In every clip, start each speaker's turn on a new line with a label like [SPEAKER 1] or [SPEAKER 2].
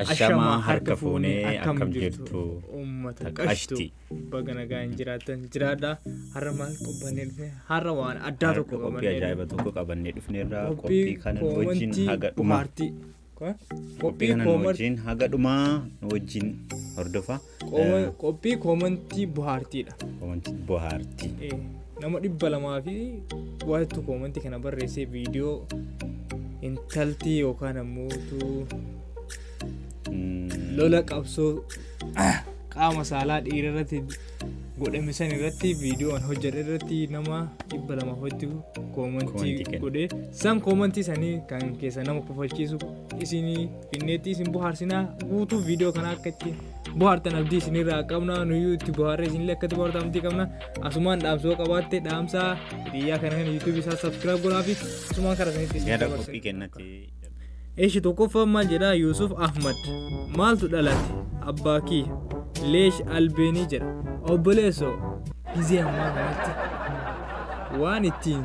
[SPEAKER 1] Ashamaa harka fuunee akkam jirtu uummata ta
[SPEAKER 2] qashtu qashti. baga nagaa hin jiraatan jiraadha har'a maal qophanne dhufne har'a waan addaa tokko qophii qabannee ajaa'iba tokko
[SPEAKER 1] qabannee dhufneerra qophii kana wajjin haga dhuma bohaartii qophii Qophii kana nu kooman- wajjin haga dhumaa nu wajjin hordofa. kooma- Eh, qophii
[SPEAKER 2] koomantii bohaartiidha. Koomantii
[SPEAKER 1] bohaartii. Eh, Nama dhibba
[SPEAKER 2] lamaa fi waatu koomantii kana barreessee viidiyoo intaltii yookaan ammoo utuu Mm, lola qabsoo qaama saalaa dhiira irratti godhame san irratti viidiyoo an hojjedhe irratti nama dhibba lama hoitti Koomantii koomantii kenna. godhe san koomantii sanii kan keessa nama kofalchiisu isin finneetti isin bohaarsinaa guutuu viidiyoo kana akka itti bohaartan abdii isinirraa qabna nuyyuu itti bohaarree isinillee akka itti bohaartan abdii qabna asumaan dhaamsoo qabaatte dhaamsaa hiriyaa kana kan yuutuubii isaa sabskiraayib godhaafi asumaan karaa sanitti isin Gara dabarsa. qophii kennatti.
[SPEAKER 1] Eshi
[SPEAKER 2] tokkoffaan maal jedha Yuusuf Ahmad maaltu dhalate abbaa kiyya leesh albeenii jedha obboleessoo gizee ammaa kanatti waan ittiin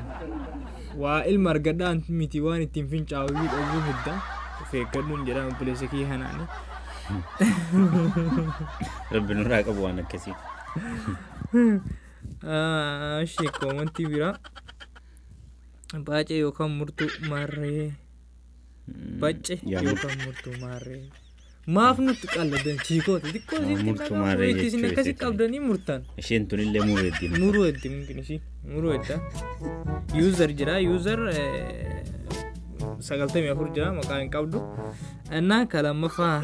[SPEAKER 2] waa ilma argadhaan miti waan ittiin fincaa'uu dhabuu hidda of eeggadhuun jedha obboleessa kiyya kanaani.
[SPEAKER 1] Rabbi nurraa qabu waan akkasii.
[SPEAKER 2] Ishee koomantii biraa. Baacee yookaan murtuu maarree. Bacce Yaa yookaan murtuu maarree. Maaf nutti qalladan chiikoota xiqqoo Yaa isin murtuu xinnaa maarree murree
[SPEAKER 1] isin jechuu akkasi isheetiin. qabdanii
[SPEAKER 2] murtan. Isheen tunillee mureetti.
[SPEAKER 1] Muruu eddi
[SPEAKER 2] mungkin ishii muruu edda. User jira user sagaltamii afur jira maqaa hin qabdu. Innaa ka lammaffaa.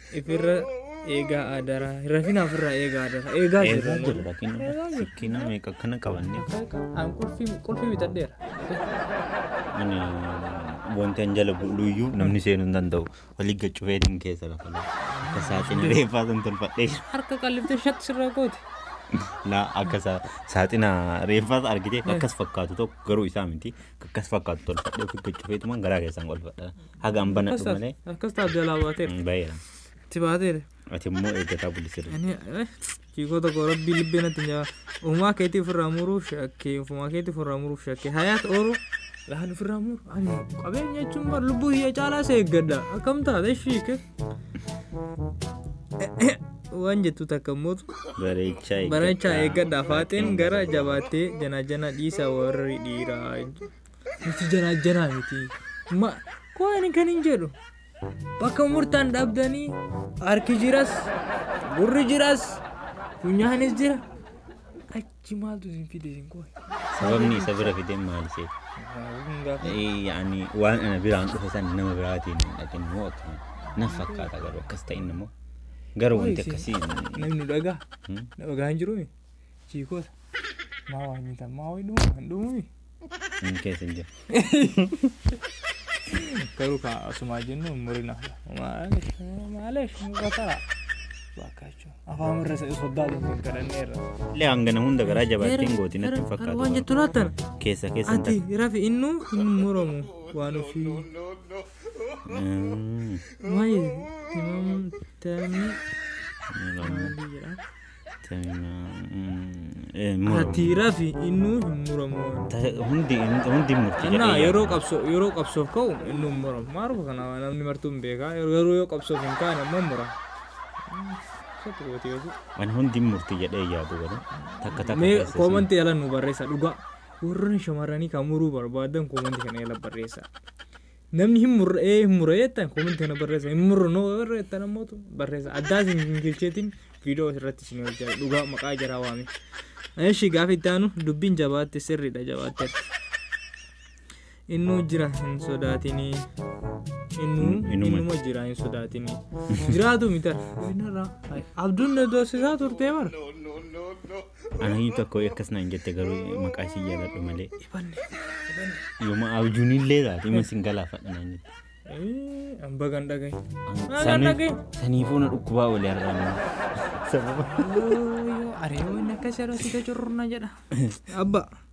[SPEAKER 2] ifirra eegaa adaraa rafina ofirraa eegaa adaraa eegaa Eegaa jirra jirra
[SPEAKER 1] kenna. Sikkina meeqa akkana qabanne. an qulfii
[SPEAKER 2] qulfii bitadheera
[SPEAKER 1] Ani wanti an jala bu'luyyuu namni seenuu hin danda'u. Walii gaccufee din keessa lafa lafa. Akka saaxina reeffaa san tolfadhee jira. harka qalliftee shatti
[SPEAKER 2] sirraa goote Laa
[SPEAKER 1] akka sa- saaxina reeffaas argitee akkas fakkaatu tokko garuu isaa miti akkas fakkaatu tolfadhee ofii gaccufeetumaan garaa keessaan qolfadha. Hagaan banadhu Akkas taas- malee. akkas taas jalaa baatee
[SPEAKER 2] Mm, Baheera. itti
[SPEAKER 1] baatee
[SPEAKER 2] Ati immoo
[SPEAKER 1] eeggataa bulisira. ani eh, ciikoo
[SPEAKER 2] tokko rabbii libbee natti nyaa uumaa keetii ofirraa muruuf shakkee uumaa keetii ofirraa muruuf shakkee hayaat ooluu laan ofirraa muru ani qabeenya jechuun bar lubbuu hiyya caalaa isa eeggadha akkam taate shiike waan jettu takka mootu Bareechaa eeggadha. bareechaa eeggadha faaxeen gara jabaattee janaa janaa dhiisa warri dhiiraa Nuti jaraa jaraa miti. Ma kooni kan hin jedhu. Bakka murtaan dhabdanii harki jiras, gurri jiras, funyaanis jira. Achi maaltu isin fide isin kooni. Sababni isa bira
[SPEAKER 1] fideen maal ishee? Yaani waan ana biraan dhufe san nama biraatiin hin dhaqin immoo akkana. Na fakkaata garuu akkas ta'in immoo. Garuu wanti akkasii Namni dhagaa.
[SPEAKER 2] Dhagaa hin jiru. Chiikoota. Maa waa nyitan maa waa hin dhumu hin dhumu. Inni keessa
[SPEAKER 1] hin jiru.
[SPEAKER 2] Garuu kan asumaa jennu hin murina. Maaliif? Maaliif? Bakara. Baakaachuun. Afaan irra isa soddaa deemee hin kadhanneerra. Illee hangana hunda
[SPEAKER 1] garaa jabaatee hin gootin natti hin fakkaatu. Waan jettu laatan.
[SPEAKER 2] Keessa keessa hin Ati
[SPEAKER 1] rafi
[SPEAKER 2] innu hin muramu. Waan ofii. Mm. Maayii. Timaamtamii. Maal amma? jedha. Ati rafi innuu hin muramu. Hundi
[SPEAKER 1] hundi murti Annaa jedhee yeroo qabsoo
[SPEAKER 2] yeroo qabsoof ka'u innuu hin muramu. Maarufa kana namni martuu hin beekaa garuu yoo qabsoof hin kaane immoo hin muramu. Satti gooti yoo
[SPEAKER 1] Ani hundi murti jedhee yaadu garuu takka takka Mee keessa koomanti jala
[SPEAKER 2] nu barreessa dhugaa. Warroonni shamarranii kan muruu barbaadan koomanti kana jala barreessa. Namni hin murre ee hin murre jettan koomenti kana barreessa hin murru noo warra jettan ammootu barreessa addaas hin hin kilcheetiin viidiyoo irratti isin hojjaa dhugaa maqaa jaraa waame. Eshi gaafa itti aanu dubbiin jabaatte sirriidha jabaatte. Innuu jira hin sodaatinii. Innuu Innuma. innuma jira hin sodaatinii. Jiraatu miti arra. Abduun na doorsisaa turtee bara.
[SPEAKER 1] Anayyu tokko akkas naan jette garuu maqaa ishii jaaladhu malee. Yooma abjuun illee taate ima sin galaafadha naan jette. Amba kan dhagaye.
[SPEAKER 2] Sanii-
[SPEAKER 1] Saniifuu na dhukkubaa olee argaama. Sababa.
[SPEAKER 2] Ariyoon akka sharasita cururna jedha. Abba.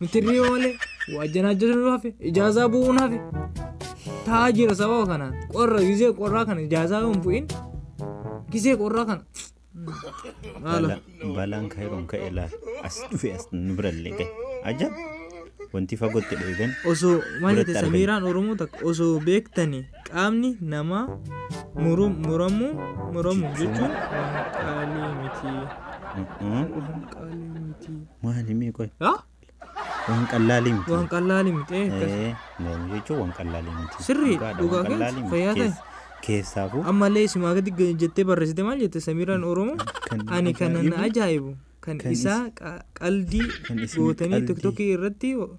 [SPEAKER 2] Mitirrii malee waajjanaa jirru hafe ijaazaa bu'uun hafe taa'aa jira sababa kanaan qorra gisee qorraa kana ijaazaa yoo hin bu'in gisee qorraa kana haala Balaan-
[SPEAKER 1] balaan kaayiroon ka'e laal as dhufe as nu birallee ga'e ajab wanti fagootti dheegan osoo maal Biratti jette
[SPEAKER 2] argame. samiiraan oromoo takka osoo beektani qaamni namaa murum- muramuu muramu jechuun waan qaalii miti. Mm-mm. Waan qaalii
[SPEAKER 1] miti. Maali mee qoy Haa? waan qallaalii miti. Waan qallaali miti. eh, akkas. Ee, mormi jechuun waan qallaalii miti. Sirrii, Dhugaadha, dhugaa waan keessa,
[SPEAKER 2] qallaalii miti. fayyaa ta'e. Keess- Keessaafuu
[SPEAKER 1] Ammallee isimaa gadi
[SPEAKER 2] g- jettee barreessite maal jette Samiiraan Oromoo? Kan Ani kan na ajaa'ibu, ajaa'ibu kan kan isaa is- qa- qaldii kan isin gootanii qaldii. tiktokii irratti o-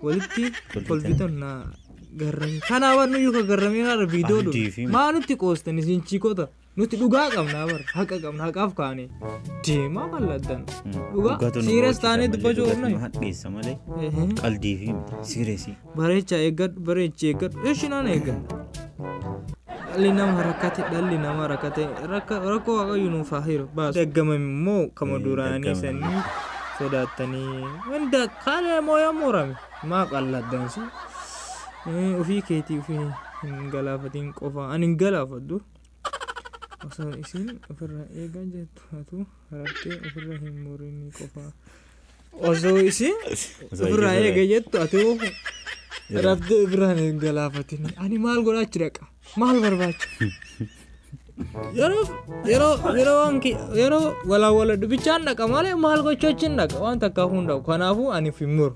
[SPEAKER 2] walitti Kolfitan. kolfitan na garrame. Kanaaf nuyyuu kan garramee haadha viidiyoo Qaldii fi- dhufu. Maa nutti qoostan isin chiikota? Nuti dhugaa qabna bar haqa qabna haqaaf kaane deemaa bal'addan dhugaa siiras taanee dubbachuu qabna. Hadheessa malee
[SPEAKER 1] qaldii fi siiresii. Bareecha eeggadhu
[SPEAKER 2] bareechi eeggadhu eshi naan eeggadhu. Dhalli nama rakkate dhalli nama rakkate rakkoo waaqayyo nuuf haa hiru baas. Daggama immoo kama duraanii sanii sodaattanii hunda kalee moo yoo murame maa qalladdansi ofii keetii ofii hin galaafatiin qofa ani hin galaafadhu. osoo isiin ofirraa eegaa jettu atu harattee ofirra hin murinii qofaa osoo isiin ofirraa eega jettu atu harattee ofirraan hin galaafatini ani maal godhaa achi dhaqa maal barbaacha yeroo yeroo yeroo waan ki- yeroo walaawala dubichaan dhaqa malee maal gochuu achi hin dhaqa waan takkaa hundaa'u kanaafuu ani of hin muru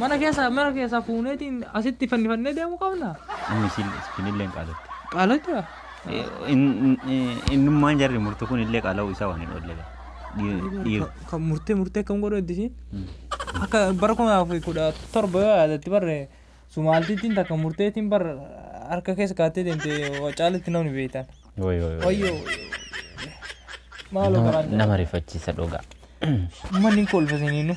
[SPEAKER 2] Mana keessaa mana keessaa fuuneetiin asitti fannifannee deemuu qabna. Amma isin isinillee
[SPEAKER 1] hin qaalatte. Qaalatti
[SPEAKER 2] haa.
[SPEAKER 1] Innummaan jarri murtu kun illee qaala'uu isaa waan hin oolle gaa. Dhiir- dhiir- Ka- Kan murtee
[SPEAKER 2] murtee kan godhu itti isiin. Mm. Akka bara kuma lamaa fi kudha torba yoo yaadatti barre sumaaltittiin takka murteetiin bar harka keessa kaattee deemte caalitti namni beektan. Woy, woy, woy. Wayyoo. Maaloo Nama- garaan nama rifachiisa dhugaa.
[SPEAKER 1] manni
[SPEAKER 2] kolfa siniinu.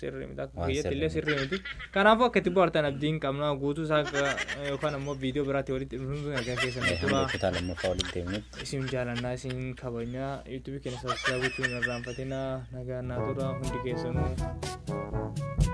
[SPEAKER 1] sirrii miti akka Waan
[SPEAKER 2] kiyyatti sirrii illee miti. sirrii miti kanaafuu akka itti bohaartan abdiin qabna guutuu isaa akka- yookaan ammoo viidiyoo biraatti walitti dhufnuun sun argaa keessan Mee turaa. hamma kutaa lammaffaa walitti
[SPEAKER 1] deemnutti isin jaalannaa isin
[SPEAKER 2] kabajnaa yuutuubii keenya sabiskiraayib gochuun hin irraanfatinaa nagaan naa turaa hundi keessanuu